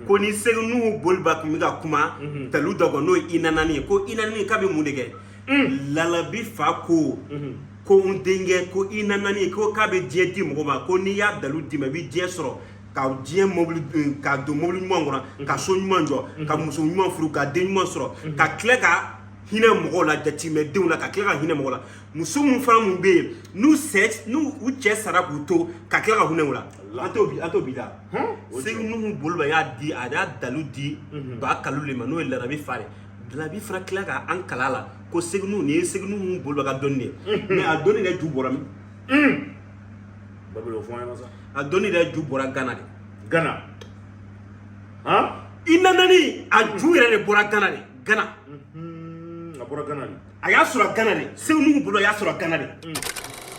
ko ni segu nuhu boloba tun bɛ ka kuma dalu dɔ kɔ n'o ye i nanani ye ko i nanani k'a bɛ mun de kɛ larabi fa ko ko n denkɛ ko i nanani ko k'a bɛ diɲɛ di mɔgɔ ma ko n'i y'a dalu d'i ma i bɛ diɲɛ sɔrɔ ka diɲɛ mobili ka don mobili ɲuman kɔnɔ ka so ɲuman jɔ ka muso ɲuman furu ka den ɲuman sɔrɔ ka tila ka hinɛ mɔgɔw la jatimɛdenw la ka tila ka hinɛ mɔgɔ la muso minnu fana minnu bɛ yen n'u sɛ n'u u cɛ sara k'u to ka tila ka hinɛ u la an t'o bi an t'o bi da segu nuhu boloba y'a di a y'a dalu di ba kalu le ma n'o ye larabi fa de larabi fana tila ka an kalan a la ko segu nuhu nin ye segu nuhu boloba ka dɔnni de ye mɛ a dɔnni yɛrɛ ju bɔra min babɛl o fɔ an ɲɛna sa a dɔnni yɛrɛ ju bɔra gana de gana han i nanani a ju yɛrɛ de bɔra gana de gana a bɔra gana de a y'a sɔrɔ gana de segu nuhu bolo a y'a sɔrɔ gana de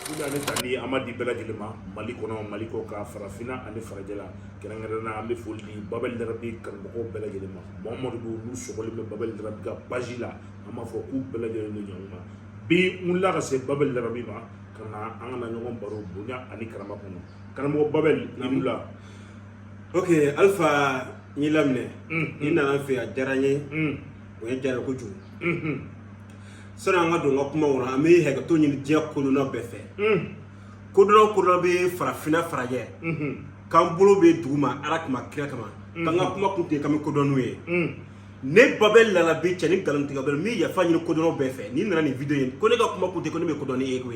Sida ne tali an ma di bɛɛ lajɛlen ma mali kɔnɔ mali kɔkan farafinna ani farajɛla kɛrɛnkɛrɛnna an bɛ foli di babɛl larabi kanubagaw bɛɛ lajɛlen ma mamadu b'u n'u sɔgɔlen bɛ babɛl larabi ka page la an b'a fɔ k'u bɛɛ lajɛlen ni ɲɔgɔn ma bi n wulila ka se babɛl larabi ma ka na an ka na ɲɔgɔn baro bonya ani karama kɔnɔ karamɔgɔ babɛl i wulila ok alpha n y'i laminɛ i nana n fɛ a diyara n ye o yɛrɛ diyara kojugu sani an ka don an ka kuma kɔnɔ an bɛ hakɛto ɲini diɲɛ kodɔnna bɛɛ fɛ kodɔnna kodɔnna bɛɛ farafinna farajɛ k'an bolo bɛ dugu ma ala kama kira kama k'an ka kuma kun tɛ k'an bɛ kodɔn n'u ye ne babɛl larabi cɛ ni nkalon tigɛ bɛɛ n bɛ yafa ɲini kodɔnnaw bɛɛ fɛ n'i nana nin video ye ko ne ka kuma kun tɛ ko ne bɛ kodɔn ni e ye ko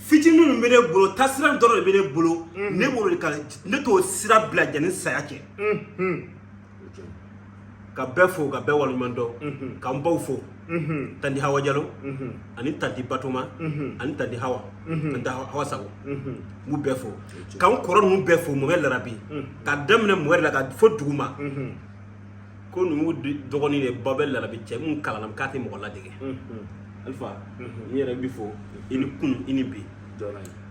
fitinin minnu bɛ ne bolo taasira dɔrɔn de bɛ ne bolo ne b'o de kan ne t'o sira bila yanni saya cɛ ka bɛɛ fo ka bɛɛ waleɲuman dɔn mhm. k'an baw fo mhm. tanti hawa jalo mhm. ani tanti batoma ani tanti hawa tanti hawa sago n b'u bɛɛ fo k'an kɔrɔ ninnu bɛɛ fo mɔmɛ larabi ka daminɛ mɔmɛ la ka fo duguma ko ninnu dɔgɔnin de babɛl larabi cɛ mun kalanna k'a tɛ mɔgɔ ladege alifa n yɛrɛ b'i fo i ni kunu i ni bi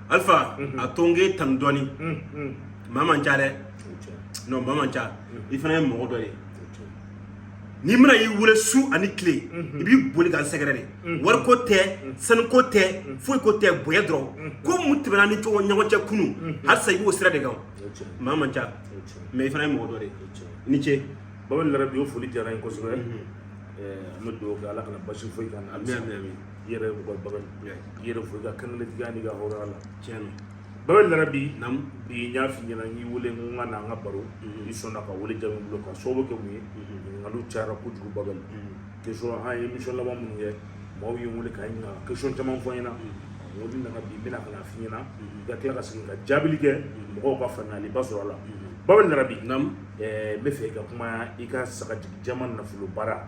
alifa a to n k'e tanu dɔɔni maa man ca dɛ non maa man ca i fana ye mɔgɔ dɔ ye ne mana i wele su ani tile i b'i boli ka n sɛgɛrɛ de wari ko tɛ sanuko tɛ foyi ko tɛ bonya dɔrɔn ko mun tɛmɛna ni cogo ɲɔgɔn cɛ kunu halisa i b'o sira de kan maa man ca mɛ i fana ye mɔgɔ dɔ de ye i ni ce babɛl larabi o foli diyara n ye kosɛbɛ an bɛ dugawu kɛ ala kana baasi foyi k'an na i yɛrɛ mɔgɔ babɛli i yɛrɛ fo i ka kankelentigiya n'i ka hɔrɔnya la tiɲɛ na babɛli larabi bi n y'a f'i ɲɛna n y'i wele i ka na an ka baro i sɔnna ka wele jaabi bolo ka sababu kɛ mun ye ɲininkaliw cayara kojugu babɛli question an ye émission laban minnu kɛ maaw ye n wele ka n ɲininka question caman fɔ n ɲɛna n ko n'i nana bi n bɛna ka na f'i ɲɛna i ka tila ka segin ka jaabili kɛ mɔgɔw ka faamuyaliba sɔrɔ a la babɛli larabi n b'a fɛ i ka kuma i ka sagajigi jɛman nafolo baara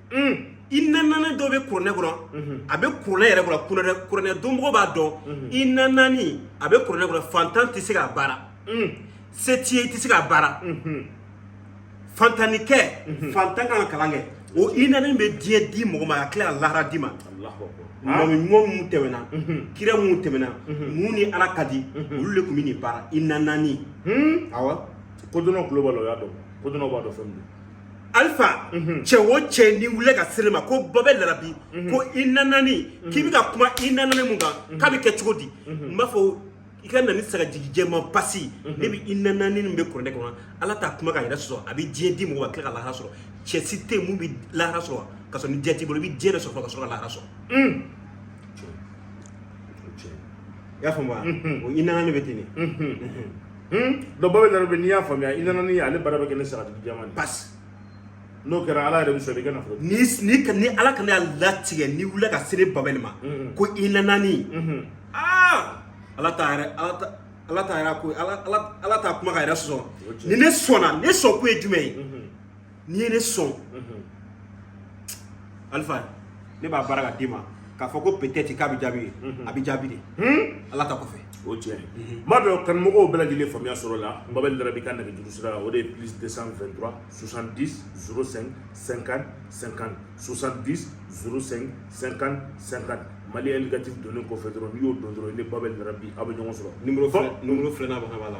inanani dɔ bɛ kuranɛ kɔnɔ a bɛ kuranɛ yɛrɛ kɔnɔ kuranɛ dɔnmɔgɔ b'a dɔn inanani a bɛ kuranɛ kɔnɔ fantan tɛ se k'a baara se t'i ye i tɛ se k'a baara fantannikɛ fantan ka kalan kɛ o inanani bɛ diɲɛ di mɔgɔ ma ka tila ka lahara d'a ma mɔgɔ ɲuman minnu tɛmɛna kira minnu tɛmɛna minnu ni ala ka di olu de tun bɛ nin baara inanani awɔ kodɔnnaw tulo b'a la u y'a dɔn kodɔnnaw b'a dɔn fɛn min don alifa mhm. cɛ o cɛ n'i wulila ka se ne ma ko babɛli larabi mhm. ko inanani mhm. k'i bɛ ka kuma inanani mun kan k'a bɛ kɛ cogo di n b'a fɔ i ka na ni sagajigi jɛman pasi ne bɛ inanani min bɛ kuranɛ kɔnɔ ala t'a kuma k'a yɛrɛ sɔsɔ a bɛ diɲɛ di mɔgɔ ma tila ka lahara sɔrɔ cɛ si tɛ yen mun bɛ lahara sɔrɔ ka sɔrɔ ni diɲɛ t'i bolo i bɛ diɲɛ de sɔrɔ ka sɔrɔ ka lahara sɔrɔ mm. i y'a faamu wa o inanani bɛ ten de donc babɛli larabi n'i y'a faamuya inanani ale baara bɛ kɛ ni sagajigi jɛman de pasi n'o kɛra ala yɛrɛ bɛ sɔrɔ i kan'a fɔ ni ni ni ala kana y'a latigɛ n'i wulila ka se ne babɛli ma ko inanani aa ala t'a yɛrɛ ala ta ala t'a yɛrɛ ko ala t'a kuma k'a yɛrɛ sɔsɔ ni ne sɔnna ne sɔn ko ye jumɛn ye n'i ye ne sɔn alifa ne b'a baara ka d'i ma k'a fɔ ko peut-être k'a bɛ jaabi ye a bɛ jaabi de ala ta kɔfɛ o tiɲɛ n b'a dɔn kanumɔgɔw bɛɛ lajɛlen faamuya sɔrɔla babɛli larabi ka nɛgɛjuru sira la o de ye plus 223 70 05 50 50 70 05 50 50 mali indicatif donnen kɔfɛ dɔrɔn n'i y'o don dɔrɔn i ni babɛli larabi aw bɛ ɲɔgɔn sɔrɔ nimero filɛ n'a bɛ ka b'a la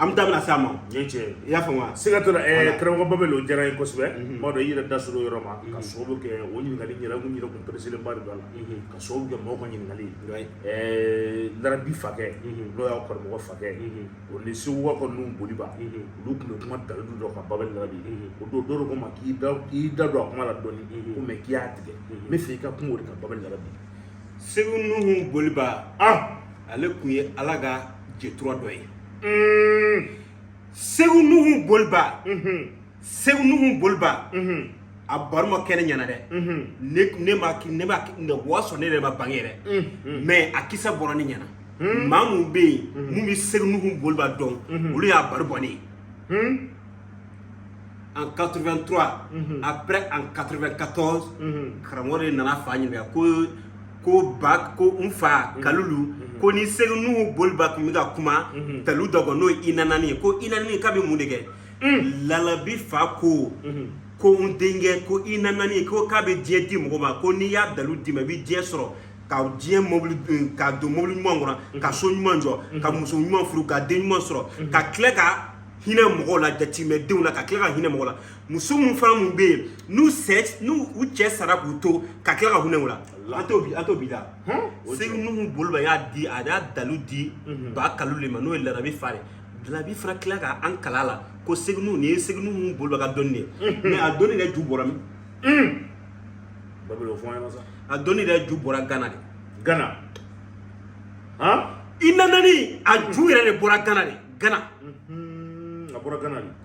an bɛ daminɛ sa ma i y'a faamu wa siga t'o la karamɔgɔ babɛli o diyara n ye kosɛbɛ n b'a dɔn i yɛrɛ da sera yɔrɔ ma ka sababu kɛ o ɲininkali yɛrɛ tun yɛrɛ tun pereselen b'a la ka sababu kɛ mɔgɔw ka ɲininkali larabi fakɛ n'o y'a karamɔgɔ fakɛ o ni segu ka nuhun boliba olu tun bɛ kuma dalilu dɔ kan babɛli larabi o don dɔw ko ma k'i k'i da don a kuma la dɔw ko mɛ k'i y'a tigɛ n b'a fɛ i ka kuma o de kan babɛli larabi segu nuhun boliba ale tun ye ala ka jɛtura dɔ ye segu nuhu boliba segu nuhu boliba a baro ma kɛ ne ɲɛna dɛ ne ne ma ne ma ne wa sɔrɔ ne yɛrɛ ma bange yɛrɛ mais a kisa bɔra ne ɲɛna maa mun bɛ yen mun bɛ segu nuhu boliba dɔn olu y'a baro bɔ ne ye en 83 après en 94 karamɔgɔ de nana n fa ɲininka ko ko ba ko n fa kalulu ko ni segu nuhu boliba tun bɛ ka kuma dalu dɔ kɔ n'o ye inanani ye ko inanani k'a bɛ mun de kɛ larabi fa ko ko n denkɛ ko inanani ko k'a bɛ diɲɛ di mɔgɔ ma ko n'i y'a dalu d'i ma i bɛ diɲɛ sɔrɔ ka diɲɛ mobili ka don mobili ɲuman kɔnɔ ka so ɲuman jɔ ka muso ɲuman furu ka den ɲuman sɔrɔ ka tila ka hinɛ mɔgɔw la yatimɛdenw na ka tila ka hinɛ mɔgɔ la muso mun fana mun bɛ yen n'u cɛ n'u u cɛ sara k'u to ka tila ka hinɛ u la an t'o bi an t'o bi la segu nuhu boliba y'a di a y'a dalu di ba kalulu ma n'o ye larabi fa ye larabi fana tila ka an kalan a la ko segu nuhu nin ye segu nuhu boliba ka dɔnni de ye mais a dɔnni yɛrɛ ju bɔra min babɛl o fɔ an ɲɛna sa a dɔnni yɛrɛ ju bɔra gana de gana han inanani a ju yɛrɛ de bɔra gana de gana a bɔra gana de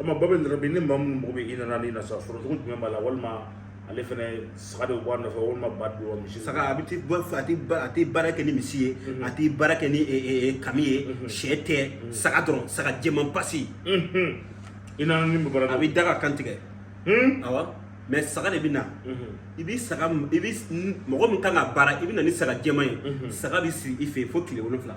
ama babɛl larabi ni maa minnu mago bɛ inanani na sa sɔrɔ cogo jumɛn b'a la walima ale fana saga de bɔ a nɔfɛ walima ba de bɔ misi saga a bɛ ti bɔ a tɛ ba a tɛ baara kɛ ni misi ye a tɛ baara kɛ ni kami ye shɛ tɛ saga dɔrɔn saga jɛman pasi i nana ni mɔgɔ a bɛ da ka kan tigɛ awa mais saga de bɛ na i bɛ saga i bɛ mɔgɔ min kan ka baara i bɛ na ni saga jɛman ye saga bɛ si i fɛ yen fo tile wolonwula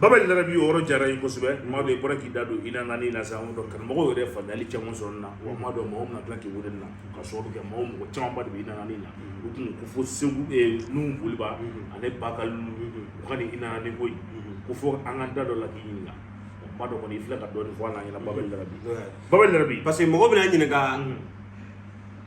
babɛl larabi yɔrɔ jara ye kosɛbɛ maa dɔ bɔra k'i da don inanani na sa dɔn karamɔgɔ yɛrɛ fadali caman sɔrɔ na wa maa dɔ mɔgɔ na k'i wele na ka sɔrɔ kɛ mɔgɔ mɔgɔ camanba de bɛ inanani na u tun ko fo segu nuhu boliba ani ba kalulu ka inanani ko ko fɔ an ka da dɔ la k'i ɲininka ba dɔ kɔni i filɛ ka dɔɔni fɔ an ɲɛna babɛl larabi babɛl larabi parce que mɔgɔ bɛna ɲininka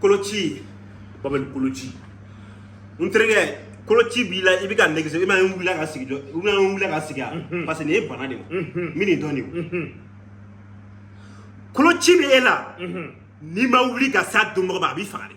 koloci babɛl koloci n terikɛ koloci b'i la i bɛ ka nɛgɛso i ma ye n wulila ka sigi jɔ i ma ye n wulila ka sigi a parce que nin ye bana de ye n bɛ nin dɔn de o koloci bɛ e la n'i ma wuli ka s'a dɔnbagaw ma a b'i faga dɛ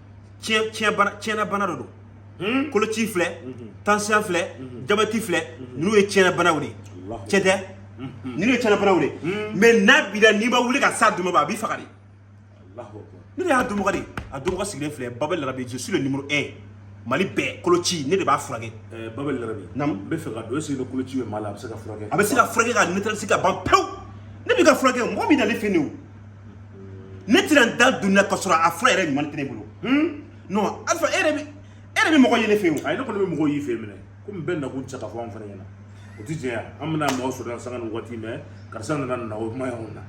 tiɲɛ tiɲɛ bana tiɲɛna bana dɔ don hmm? koloci filɛ mhm. tansiyɔn filɛ mhm. jabɛti filɛ mhm. ninnu ye tiɲɛna banaw de ye tiɲɛ tɛ ninnu ye tiɲɛna banaw de ye hmm. mais n'a b'i la n'i ma wuli ka s'a dɔnbaga ma a b'i faga dɛ ne de y'a dɔnbaga de a dɔnbaga sigilen filɛ babɛl larabi je suis le numéro 1 mali bɛɛ koloci ne de b'a furakɛ eh, babɛl larabi n bɛ fɛ ka dɔn est-ce que ni koloci bɛ maa la a bɛ se ka furakɛ a bɛ se ka furakɛ ka neutraliser ka ban pewu ne bɛ ka furakɛ mɔgɔ min nalen filɛ nin ye o ne tɛna n da don na ka sɔrɔ a fura yɛrɛ ɲuman tɛ ne bolo non alpha e yɛrɛ bɛ e yɛrɛ bɛ mɔgɔ ye ne fɛ yen o ayi ne kɔni bɛ mɔgɔw y'i fɛ yen minɛ komi bɛɛ nakun tɛ se ka fɔ anw fana ɲɛna o tɛ tiɲɛ ye an bɛna mɔgɔ sɔrɔ yan sanga ni waati mais karisa nana nin na o kuma y'anw na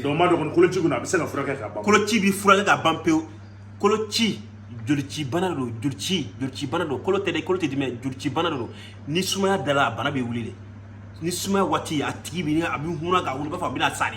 donc n b'a dɔn kɔni koloci kɔni a bɛ se ka furakɛ ka ban koloci bɛ furakɛ ka ban pewu koloci jolicibana de don jolici jolicibana don kolo tɛ dɛ kolo tɛ dimi dɛ jolicibana de don ni sumaya dala a bana bɛ wuli de ni sumaya waati a tigi bɛ a bɛ hunna ka wuli i b'a fɔ a bɛna sa de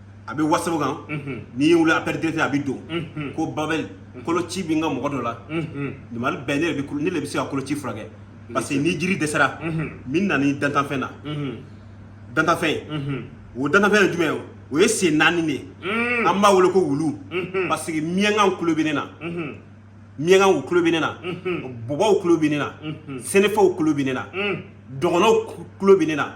a bɛ WhatsApp kan n'i y'a wele appel direct a bɛ don ko babɛli koloci bɛ n ka mɔgɔ dɔ la Mali bɛɛ ne ne de bɛ se ka koloci furakɛ parce que ni jiri dɛsɛra min na ni dantanfɛn na dantanfɛn o dantanfɛn ye jumɛn o ye sen naani de ye an b'a wele ko wulu parce que miyankaw tulo bɛ ne na miyankaw tulo bɛ ne na bɔbɔw tulo bɛ ne na sɛnɛfɔw tulo bɛ ne na dɔgɔnɔw tulo bɛ ne na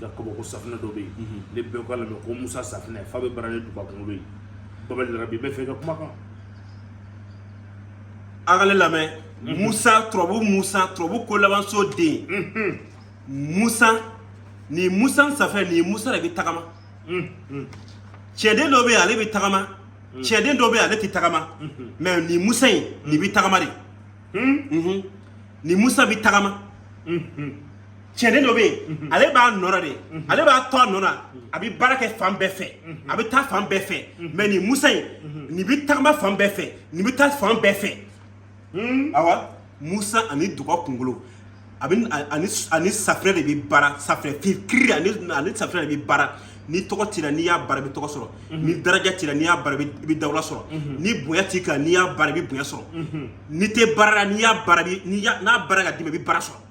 ka kabako safunɛ dɔ bɛ yen ne bɛɛ k'a lamɛn ko musa safunɛ fa bɛ baara ni duga kunkolo ye babali rabi bɛ fɛ ka kuma kan an ka ne lamɛn musa turabu musa turabu ko labanso den musa nin musa safunɛ nin musa de bɛ tagama cɛden dɔ bɛ yen ale bɛ tagama cɛden dɔ bɛ yen ale tɛ tagama mais nin musa in nin bɛ tagama de nin musa bɛ tagama cɛden dɔ bɛ yen mhm. ale b'a nɔ na de mhm. ale b'a to a nɔ na mhm. a bɛ baara kɛ fan bɛɛ fɛ a bɛ taa fan bɛɛ fɛ mais nin musa in nin bɛ tagama fan bɛɛ fɛ nin bɛ taa fan bɛɛ fɛ hmm? awa musa ani duga kunkolo a bɛ ani ani safinɛ de bɛ baara safinɛ kiri ani ani safinɛ de bɛ baara ni tɔgɔ t'i ra n'i y'a baara i bɛ tɔgɔ sɔrɔ ni daraja t'i ra n'i y'a baara i bɛ dawula sɔrɔ ni bonya t'i kan n'i y'a baara i bɛ bonya sɔrɔ n'i tɛ baara la n'i y'a baara n'i y'a n'a baara ka d'i ma i bɛ baara sɔrɔ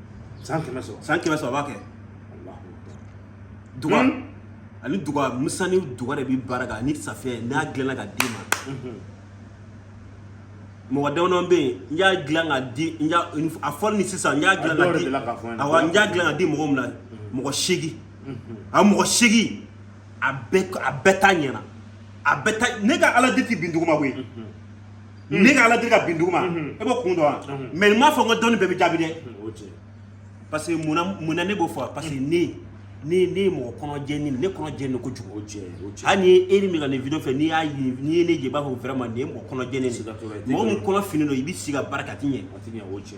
cent pour cent cent pour cent a b'a kɛ duga ani duga musa ni duga de bɛ baara kɛ ani safinɛ n'a dilanna ka d'i ma mɔgɔ damadɔ bɛ yen n y'a dilan ka di n y'a a fɔli ni sisan n y'a dilan ka di awɔ n y'a dilan ka di mɔgɔ min na mɔgɔ seegin a mɔgɔ seegin a bɛɛ a bɛɛ ta ɲɛna a bɛɛ ta ne ka ala deli ti bin duguma koyi Mm. ne ka ala deli ka bin duguma e b'o kun dɔn wa mais n m'a fɔ n ka dɔnni bɛɛ bɛ jaabi dɛ parce que mun na ne b'o fɔ parce que ne ne ne ye mɔgɔ kɔnɔ jɛnin ne kɔnɔ jɛnin kojugu o jɛ o jɛ hali ni ye e ni min ka ne video filɛ n'i y'a ye n'i ye ne jɛ i b'a fɔ vraiment nin ye mɔgɔ kɔnɔ jɛnin de mɔgɔ min kɔnɔ finnin don i bɛ sigi ka baara kɛ a ti ɲɛ a ti ɲɛ o jɛ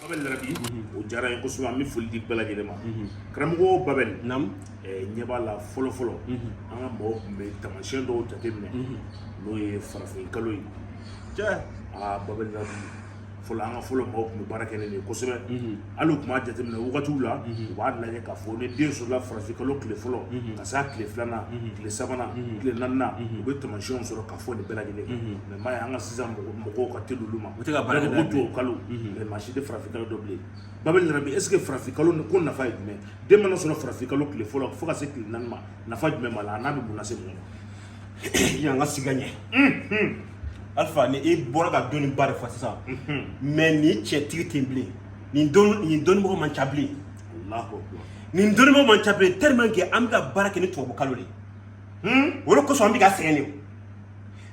Babel Larabi, o diyara n ye kosɛbɛ an bɛ foli di bɛɛ lajɛlen ma karamɔgɔ Babel Naamu. eh, n ɲɛ b'a la fɔlɔ fɔlɔ an ka mɔgɔw tun bɛ taamasiyɛn dɔw jateminɛ n'o ye farafin kalo ye Cɛ. aa Babel Larabi fɔlɔ an ka fɔlɔ mɔgɔw tun bɛ baara kɛ ni nin ye kosɛbɛ hali u tun b'a jateminɛ wagatiw la u b'a lajɛ k'a fɔ ni den sɔrɔla farafin kalo tile fɔlɔ ka se a tile filanan tile sabanan tile naaninan u bɛ taamasiyɛnw sɔrɔ k'a fɔ nin bɛɛ lajɛlen kan mais ye an ka sisan mɔgɔw ka teli olu ma u bɛ ka baara kɛ tubabu kalo de maa si tɛ farafin kalo dɔn bilen Babel Larabi est ce que farafin kalo ko nafa ye jumɛn den mana sɔrɔ farafin kalo tile fɔlɔ fo ka se tile naani ma nafa jumɛn b'a la a n'a bɛ mun lase mɔgɔ ma yan ka siga ɲɛ alifa ni e bɔra ka dɔnni ba de fɔ sisan mais nin cɛ tigi tɛ bilen nin dɔnnimɔgɔ man ca bilen nin dɔnnimɔgɔ man ca bilen tellement que an bɛ ka baara kɛ ni tubabu kalo de ye o de kosɔn an bɛ ka sɛgɛn de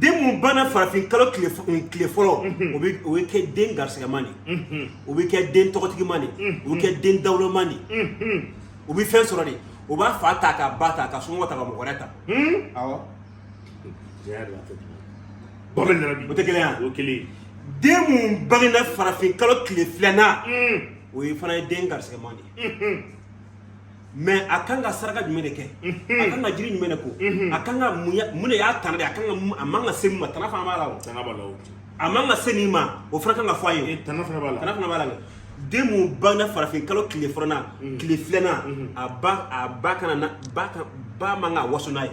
den minnu bangena farafin kalo tile fɔlɔ o bɛ kɛ den garisigɛman de o bɛ kɛ den tɔgɔtigiman de o bɛ kɛ den dawuloman de o bɛ fɛn sɔrɔ de o b'a fa ta k'a ba ta ka somɔgɔ ta ka mɔgɔ wɛrɛ ta awɔ Babel Larabi o tɛ kelen yan o kelen den minnu bangena farafin kalo tile filanan o ye fana den garisigɛman de ye mais a kan ka saraka jumɛn de kɛ a kan ka jiri jumɛn de ko a kan ka mun de y'a tana de a kan ka a man ka se min ma tana fana b'a la o tana b'a la o a man ka se nin ma o fana kan ka fɔ a ye tana fana b'a la tana fana b'a la dɛ den mun bangena farafin kalo tile fɔlɔna tile filanan a ba a ba kana a ba man ka waso n'a ye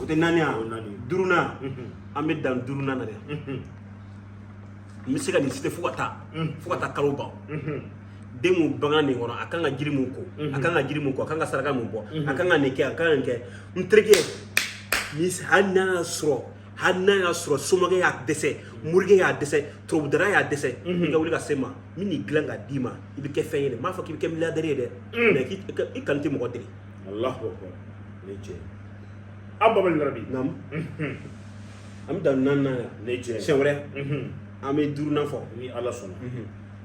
o tɛ naani yan duurunan an bɛ dan duurunan na dɛ n bɛ se ka nin citer fo ka taa fo ka taa kalo ban den mun bangena nin kɔnɔ a kan ka jiri mun ko a kan ka jiri mun ko a kan ka saraka mun bɔ a kan ka nin kɛ a kan ka nin kɛ n terikɛ hali n'a y'a sɔrɔ hali n'a y'a sɔrɔ soma y'a dɛsɛ morikɛ y'a dɛsɛ turabudala y'a dɛsɛ i ka wuli ka se n ma n bɛ nin dilan ka d'i ma i bɛ kɛ fɛn ye dɛ n m'a fɔ k'i bɛ kɛ milliardaire ye dɛ mais i kɔni tɛ mɔgɔ deli Alahu akbar ne cɛ an Babali Larabi naamu an bɛ dan naaninan yan ne cɛ siɲɛ wɛrɛ an bɛ duurunan fɔ ni ala sɔnna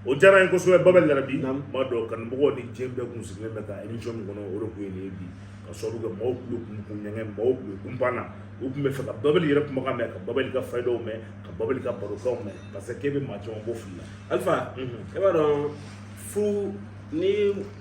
o diyara n ye kosɛbɛ Babali Larabi n b'a dɔn kanubagaw ni diɲɛ bɛɛ kun sigilen bɛ ka émission min kɔnɔ o de kun ye nin ye bi ka sababu kɛ maaw tulo kun kun ɲɛgɛn maaw kun kun banna u kun b'a fɛ ka babali yɛrɛ kumakan mɛn ka babali ka fayidaw mɛn ka babali ka barokanw mɛn parce que k'e bɛ maa caman bɔ fili la alifa e b'a dɔn furu ni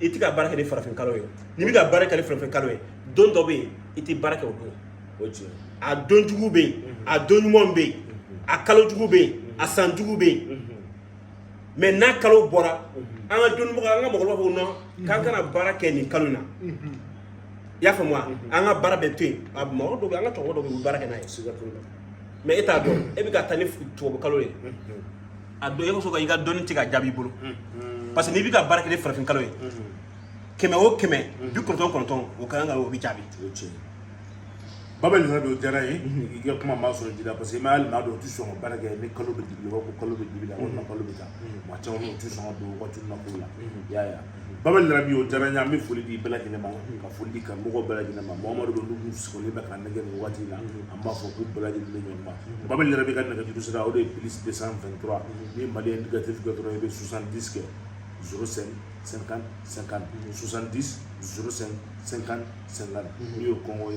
i tɛ ka baara kɛ ni farafin kalo ye n'i bɛ ka baara kɛ ni farafin kalo ye don dɔ bɛ yen i tɛ baara kɛ o don o tiɲɛ a don jugu bɛ yen a don ɲuman bɛ yen a kalo jugu bɛ yen a san jugu bɛ yen mais n'a kalo bɔra an ka dɔnnibagaw an ka mɔgɔkɔrɔbaw b'a fɔ non k'an kana baara kɛ nin kalo in na i y'a faamu wa an ka baara bɛɛ to yen a mɔgɔ dɔw bɛ yen an ka cɛkɔrɔba dɔw bɛ yen u bɛ baara kɛ n'a ye mais e t'a dɔn e bɛ ka taa ni tubabu kalo ye a dɔn o kosɔn ka i ka dɔnni tɛ ka jaabi i bolo parce que n'i bɛ ka baara kɛ ni farafin kalo ye kɛmɛ o kɛmɛ bi kɔnɔntɔn kɔnɔntɔn o ka kan ka o bɛ jaabi baba larabi o diyara n ye i ka kuma m'a sɔrɔ ji la parce que i m'a hali maa dɔw tɛ sɔn ka baara kɛ ni kalo bɛ dibi la ko kalo bɛ dibi la walima kalo bɛ taa maa caman u tɛ sɔn ka don waati na ko la i y'a ye baba larabi o diyara n ye an bɛ foli di bɛɛ lajɛlen ma ka foli di karamɔgɔ bɛɛ lajɛlen ma maa o maa don n'u sigilen bɛ k'an nɛgɛ nin waati in na an b'a fɔ k'u bɛɛ lajɛlen bɛ ɲɔgɔn ma baba larabi ka nɛgɛjuru sira o de ye plus 223 ni mali indicatif kɛ dɔrɔn i bɛ 70 kɛ 05 50 50 70 05 50 50 n'i y'o kɔngɔ ye